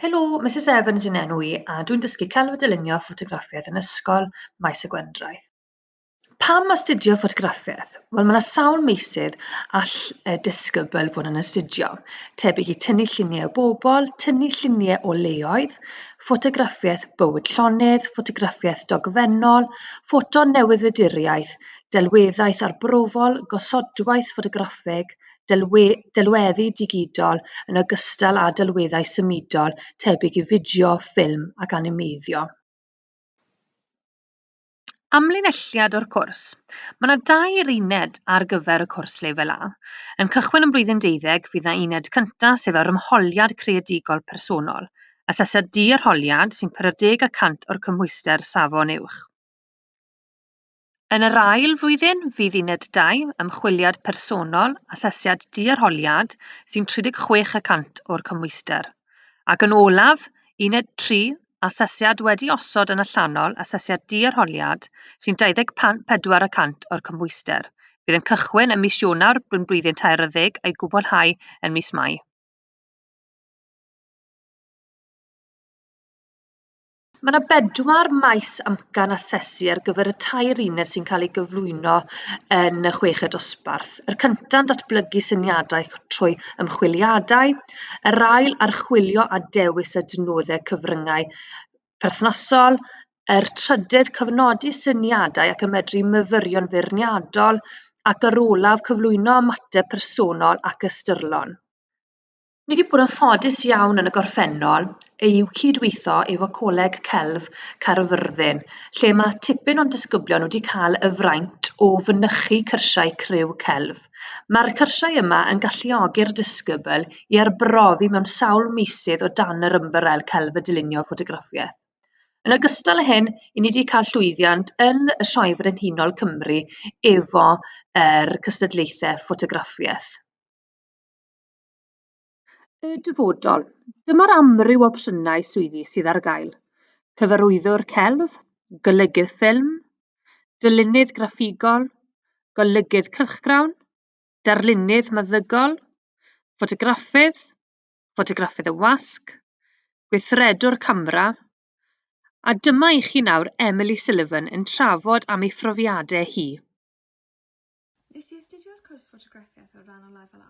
Helo, Misus Evans yn enw i a dwi'n dysgu celf a dylunio ffotograffiaeth yn ysgol Maes y Gwendraeth. Pam astudio ffotograffiaeth? Wel, mae yna sawl meysydd all y disgybl fod yn astudio, tebyg i tynnu lluniau o bobl, tynnu lluniau o leoedd, ffotograffiaeth bywyd llonydd, ffotograffiaeth dogfennol, ffoto newyddiaduriaeth, delweddaeth arbrofol, gosodwaith ffotograffig, delweddu digidol yn ogystal â delweddau symudol tebyg i fideo, ffilm ac animeiddio. Amlinelliad o'r cwrs, Mae yna dair uned ar gyfer y cwrs Lefel A. Yn cychwyn yn blwyddyn deuddeg, fydd yna uned cyntaf sef yr Ymholiad Creadigol Personol, asesiad di-arholiad sy'n 40 y cant o'r cymhwyster safon uwch. Yn yr ail flwyddyn, fydd uned 2, Ymchwiliad Personol, Asesiad Di-arholiad, sy'n 36 y cant o'r cymhwyster. Ac yn olaf, uned 3, Asesiad wedi osod yn allanol, Asesiad Di-arholiad, sy'n 24 y cant o'r cymhwyster. Bydd yn cychwyn ym mis Ionawr yn blwyddyn taeryddeg a'i gwblhau yn mis Mai. Mae yna bedwar maes amcan asesu ar gyfer y tair uned sy'n cael eu gyflwyno yn y chweched dosbarth. Yr cynta'n datblygu syniadau trwy ymchwiliadau, yr ail archwilio a dewis adnoddau cyfryngau perthnasol, yr trydedd cyfnodi syniadau ac ymedru myfyrion feirniadol, ac yr olaf cyflwyno ymateb personol ac ystyrlon. Ni wedi bod yn ffodus iawn yn y gorffennol i cydweithio efo Coleg Celf Caerfyrddin, lle mae tipyn o'n disgyblion wedi cael y fraint o fynychu cyrsiau criw celf. Mae'r cyrsiau yma yn galluogi'r disgybl i arbrofi mewn sawl meysydd o dan yr ymbarel celf y dylunio ffotograffiaeth. Yn ogystal â hyn, i ni wedi cael llwyddiant yn y Sioe Frenhinol Cymru efo yr cystadlaethau ffotograffiaeth. Y dyfodol. Dyma'r amryw opsiynau swyddi sydd ar gael. Cyfarwyddwr celf, golygydd ffilm, dylunydd graffigol, golygydd cylchgrawn, darlunydd meddygol, ffotograffydd, ffotograffydd y wasg, gweithredwr camera, a dyma i chi nawr Emily Sullivan yn trafod am ei phrofiadau hi. Nes i astudio'r cwrs ffotograffiaeth o ran o Lefel A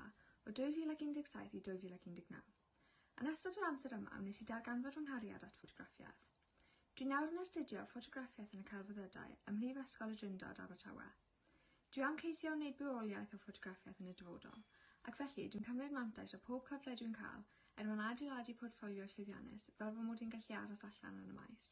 o 2017 i 2019. Yn ystod yr amser yma wnes i darganfod fy nghariad at ffotograffiaeth. Dwi nawr yn astudio ffotograffiaeth yn y Celfyddydau ym Mhrifysgol y Drindod, Abertawe. Dwi am ceisio wneud bywoliaeth o ffotograffiaeth yn y dyfodol, ac felly dwi'n cymryd mantais o pob cyfle dwi'n cael er mwyn adeiladu portffolio llwyddiannus fel fy mod i'n gallu aros allan yn y maes.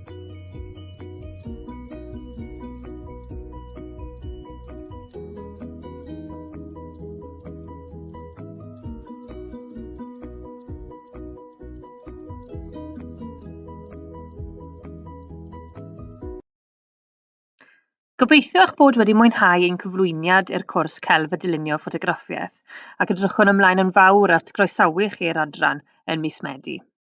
Gobeithio eich bod wedi mwynhau ein cyflwyniad i'r cwrs Celf a Dylunio Ffotograffiaeth ac edrychwn ymlaen yn fawr at groesawu chi i'r adran yn mis Medi.